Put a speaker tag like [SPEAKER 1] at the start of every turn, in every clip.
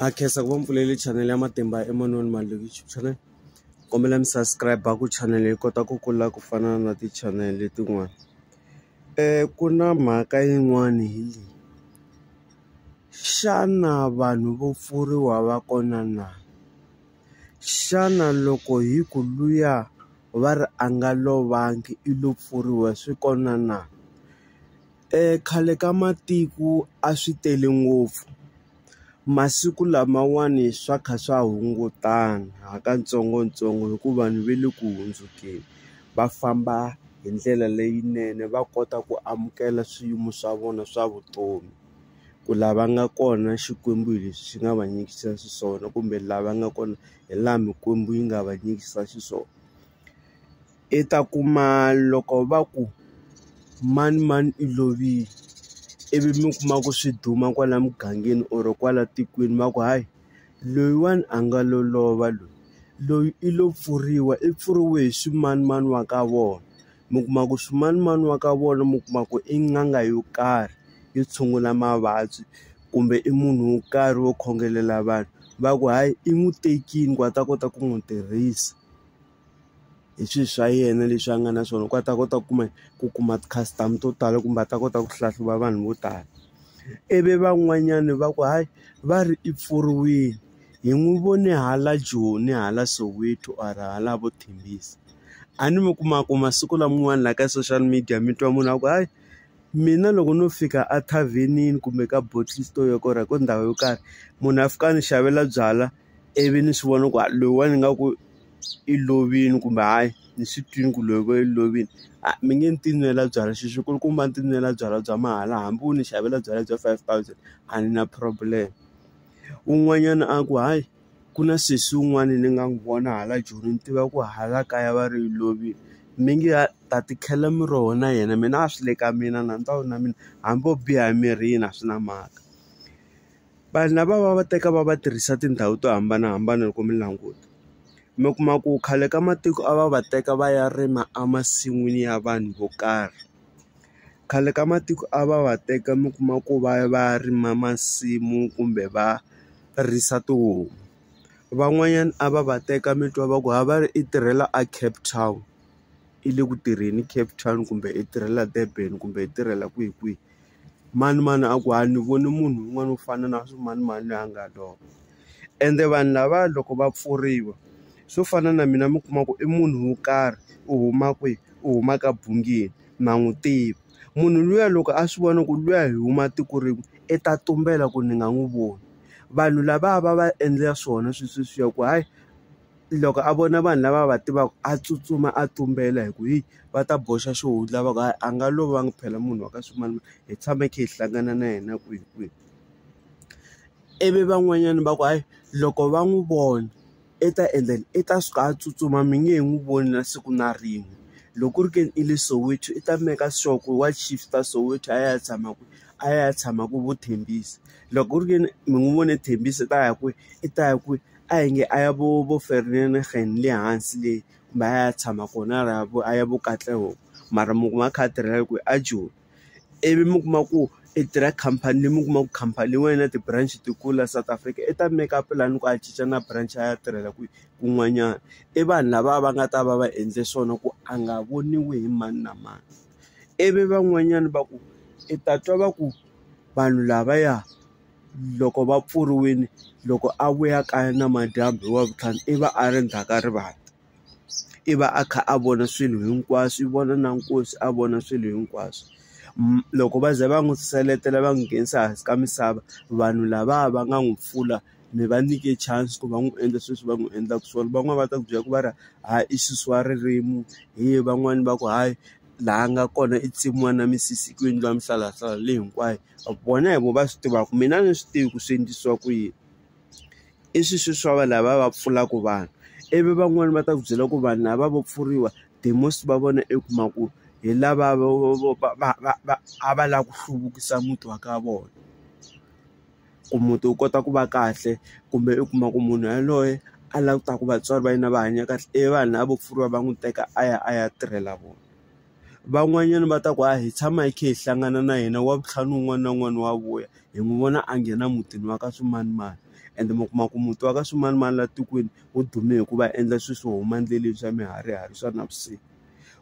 [SPEAKER 1] a khensa ku va mi pfulele chanel ya matimba emanoni malokixi channel kombela mi subscribe ku chanel yi kota ku kula ku fana na ti-channel letin'wana um ku na mhaka yin'wani hi leyi xana vanhu vo pfuriwa va kona na xana loko hi ku luya va ri a nga lovangi i lo pfuriwa swi kona na. Khale ka matiko a swi tele ngopfu masiku lamawani swa kha swa hungutana ha katsongotsongo hikuva vanhu va le ku hundzukeni va famba hi ndlela leyinene va kota ku amukela swiyimo swa vona swa vutomi ku la va nga kona Xikwembu hi leswi xi nga va nyikisa xiswona kumbe la va nga kona hi laha Mikwembu yi nga va nyikisa xiswona. i ta kuma loko va ku manimani i lovile ivi mi kuma ku swi duma kwala mugangeni or kwala tikweni va ku hayi loyiwani a nga lo lova loyi loyi i lo pfuriwa i pfuriwe hi swimanimani wa ka vona mi kuma ku swimanimani wa ka vona mi kuma ku i n'anga yo karhi yo tshungula mavabyi kumbe i munhu wo karhi wo khongelela vanhu va ku hayi i n'wi tekile ku a ta kota ku n'wi tirhisa. hi swi swa yena leswi a nga na swona ku a ta kota ku kuma ku kuma ti-customer to tala kumbe a ta kota ku hlahluva vanhu vo tala ivi van'wanyani va ku hayi va ri i pfuriwile hi n'wi vone hala joni hala soweto or hala vo thembisa a ni mi kuma ku masiku laman'wana laha ka social media mi twa munhu a ku hayi mina loko no fika a thavhenini kumbe ka bottle store yo karhi ku ndhawu yo karhi munhu a fika a ni xavela byalwa. ivi ni swi vona ku loyiwani nga ku i lovile kumbe hayi ni swi twile ku loyi va yi lovile a mi nge ni ti nwela byalwa xi xi kulukumba ni ti nwela byalwa bya mahala hambi wo ni xavela byalwa bya five thousand a ni na problem un'wanyana a ku hayi ku na sesi wun'wani ni nga n'wi vona hala joni ni tiva ku hala kaya va ri yi lovile mi nge a ta ti khela miroho na yena mina a swi le ka mina nandza wu na mina hambi o biha emirini a swi na mhaka. vanhu lava va va teka va va tirhisa tindhawu to hambanahambana loko mi languta mi kuma ku khale ka matiko a va va teka va ya rima emasin'wini ya vanhu vo karhi khale ka matiko a va va teka mi kuma ku va ya va ya rima masimu kumbe va risa tihomu van'wanyana a va va teka mi twa va ku ha va ri i tirhela a Cape Town i le ku tirheni Cape Town kumbe i tirhela Durban kumbe i tirhela kwihi kwihi. Manimani a ku a ni voni munhu un'wana u fana na swimanimani loyi a nga lova ende vanhu lava loko va pfuriwa swo fana na mina mi kuma ku i munhu wo karhi u huma kwihi u huma ka Bungeni na n'wi tiva munhu luya loko a swi vona ku luya hi huma tiko rin'we i ta tumbela ku ni nga n'wi voni vanhu lava va va endlela swona swi sweswiya ku hayi. loko a vona vanhu lava a va tivaka a tsutsuma a tumbela hi ku hi va ta boxa xihundla va ku hayi a nga lova nga phela munhu wa ka swimanimani hi tshame hi kha hi hlangana na yena kwihi kwihi ivi van'wanyana va ku hayi loko va n'wi vona i ta endla yini i ta suka a tsutsuma mi nge he n'wi voni na siku na rin'we loko ku ri ke ni i le Soweto i ta make sure ku wa shift-a Soweto a ya ya tshama kwihi a ya ya tshama ku vo Thembisa loko ku ri ke ni mi n'wi vone Thembisa i ta ya kwihi i ta ya kwihi. a hi nge a ya vo vo Vereeniging le hansi le kumbe a ya tshama kona a ya vo a ya vo Katlehong mara mi kuma a kha a tirhela kwihi a Joni ivi mi kuma ku i tirha khampani leyi mi kuma ku khampani leyi n'wana na ti-branch ti kulu la South Africa i ta make up lani ku a cinca na branch a ya tirhela kwihi kun'wanyana i vanhu lava va nga ta va va endle swona ku a nga voniwi hi mani na mani ivi van'wanyana va ku i ta twa va ku vanhu lavaya loko va pfuriwile loko a vuya kaya namadyambu hi wavuntlhanu i va a ri ndzhaka rivala i va a kha a vona swilo hinkwaswo i vona na nkosi a vona swilo hinkwaswo loko va ze va n'wi seletela va n'wi nghenisa hansi ka misava vanhu lava va nga n'wi pfula mi va nyike chance ku va n'wi endla sweswi va n'wi endlaka swona van'wani va ta ku byela ku va ri ha i sesi wa ririmi hi van'wani va ku hayi laha nga kona i tsemiwa na misisi ku endliwa mihlalahlala leyi hinkwayo. vona hi vo va swi tivaka mina a ni swi tivi ku swi endlisiwa ku yini i swi swi swa va lava va pfulaka vanhu ivi van'wani va ta ku byela ku vanhu lava vo pfuriwa the most va vona i kuma ku hi lava va va va va a va lava ku hluvukisa muti wa ka vona ku muti wu kota ku va kahle kumbe u kuma ku munhu yaloye a lava ku ta ku vatswari va yena va hanya kahle ivi vanhu lava vo pfuriwa va n'wi teka a ya a ya tirhela vona. van'wanyana va ta ku a hi tshama hi kha hi hlangana na yena wa vutlhari un'wana na un'wana wa vuya hi n'wi vona a nghena mutini wa ka swimanimani ende mi kuma ku muti wa ka swimanimani laha tikweni wu dume hikuva endla swilo swo huma endleleni swa miharihari swa navusiku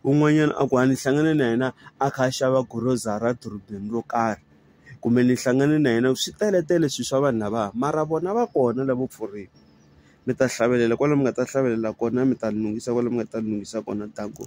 [SPEAKER 1] un'wanyana a ku a ni hlangane na yena a kha a xava grocery edorobeni ro karhi kumbe ni hlangane na yena swi teletele swilo swa vanhu lava mara vona va kona lavo pfuriwa mi ta hlavelela kwala mi nga ta hlavelela kona mi ta lunghisa kwale mi nga ta lunghisa kona danko.